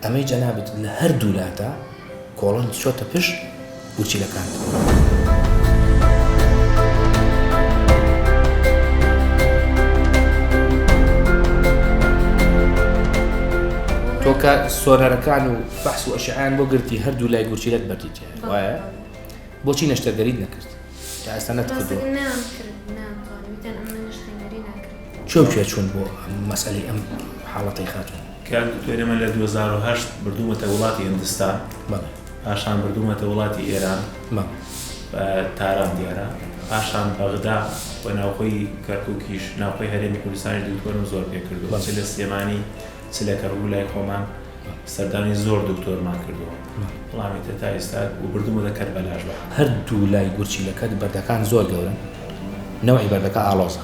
ئەمەی جەنابت لە هەر دوو لاتە کۆڵنت چۆتە پشت گورچیلەکانت. تۆ کە سۆنەرەکان و فەحس و ئەشعەیان بۆ گرتی هەردوو لای گورچیلەت بەردی تیایە بەڵێ وایە بۆچی نەشتەرگەریت نەکرد تا ئێستا نەتکردووە ڕاستەکەی نەیان کرد ناتوانم وتیان ئەمە نەشتەنگەری ناکرێت کێ و کێ چوون بۆ مەسەلەی ئەم حاڵەتەی خاتوون؟ کاک دکتۆر ئێمە لە دوو هەزار و هەشت بردوومەتە وڵاتی هندستان بەڵێ پاشان بردوومەتە وڵاتی ئێران بەڵێ بە تاران دیارە پاشان بەغدا و ناوخۆی کەرکووکیش ناوخۆی هەرێمی کوردستانیش دکتۆرم زۆر پێ کردووە چ لە سلێمانی چ لە کەرکووک لای خۆمان سەردانی زۆر دکتۆرمان کردووە وڵامی تر تا ئێستا و بردوومەتە کەربەلاش بە هەردوو لای گورچیلەکە بەردەکان زۆر گەورەن نەوعی بەردەکە ئاڵۆزە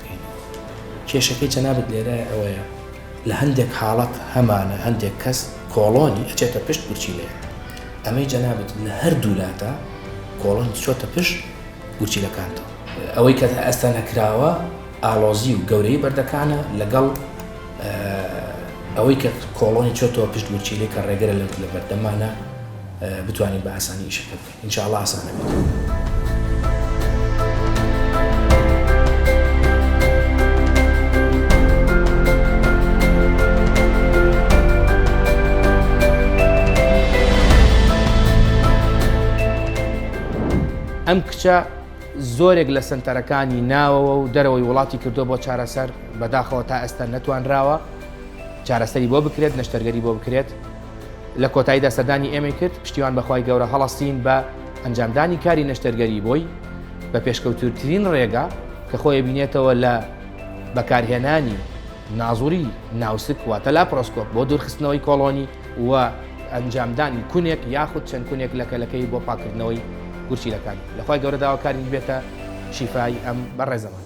بکەین. کێشەکەی جەنابت لێرایە ئەوەیە لە هەندێک حاڵەت هەمانە هەندێک کەس کۆڵۆنی ئەچێتە پشت گورچیلەیەک ئەمەی جەنابت لە هەردوو لادا کۆڵۆنی چۆتە پشت گورچیلەکانتەوە ئەوەی کە ئەستا نەکراوە ئالۆزی و گەورەی بەردەکانە لەگەڵ ئەوەی کە کۆڵۆنی چۆتەوە پشت گورچیلەی کە ڕێگەرە لە بەردەمانە بتوانین بە ئاسانی شەکە بکەین ان شاء اللە ئاسان ئەبێتەوە. ئەم کچە زۆرێک لە سەنتەرەکانی ناوەوە و دەرەوەی وڵاتی کردووە بۆ چارەسەر بەداخەوە تا ئێستا نەتوانراوە چارەسەری بۆ بکرێت نەشتەرگەری بۆ بکرێت لە کۆتاییدا سەردانی ئێمەی کرد، پشتیوان بە خوای گەورە هەڵەستین بە ئەنجامدانی کاری نەشتەرگەری بۆی بە پێشکەوتووترین ڕێگا کە خۆی ئەبینێتەوە لە بەکارهێنانی نازوری ناوسک واتە لاپرۆسکۆپ بۆ دوورخستنەوەی کۆڵۆنی و ئەنجامدانی کونێک یاخود چەند کونێک لە کەلەکەی بۆ پاککردنەوەی گورچیلەکان لە خوای گەورە داواکارین بێتە شیفای ئەم بەڕێزەمان.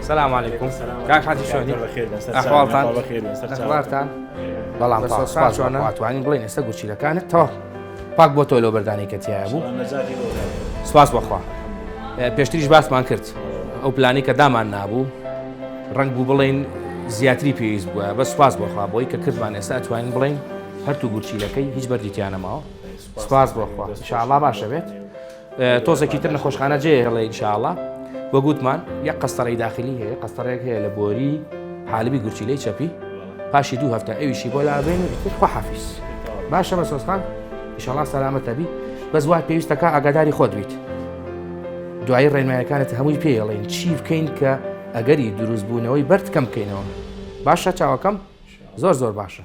سلام علیکم کاک حاجی شۆنی ئەحواڵتان ئەخبارتان بەڵام چۆنە ئەتوانین بڵێن ئێستا گورچیلەکانت تەوا پاک بۆ تۆ لەو بەردانی کە تایە بوو سواس بەخوا پێشتریش باسمان کرد ئەو پلانی کە دامان نابوو ڕنگ بوو بڵین زیاتری پێویست بووە بە سواس بۆخوا بۆی کە کردمان ئێستا ئەتوانین بڵین هەرتو گورچیلەکەی هیچ بەردیتیانەماوە سواس بۆخوا شاڵا باشە بێت تۆزێکی تر نەخۆشخانە جێ هێڵێ ئینشاءاللە وەک وتمان یەک قەستەڕەی داخلی هەیە قەستەڕێک هەیە لە بۆری حالبی گورچیلەی چەپی پاشی دوو هەفتە ئەویشی بۆ لابێن خۆ حافیز باشە مەسۆستان ئیشەڵا سەلامەتەبی بەس وای پێویستەکە ئاگاداری خۆت بیت دوایی ڕێنمایەکانت هەمووی پێڵێن چی بکەین کە ئەگەری دروستبوونەوەی بەرد کەم بکەینەوە باشە چاوەکەم زۆر زۆر باشە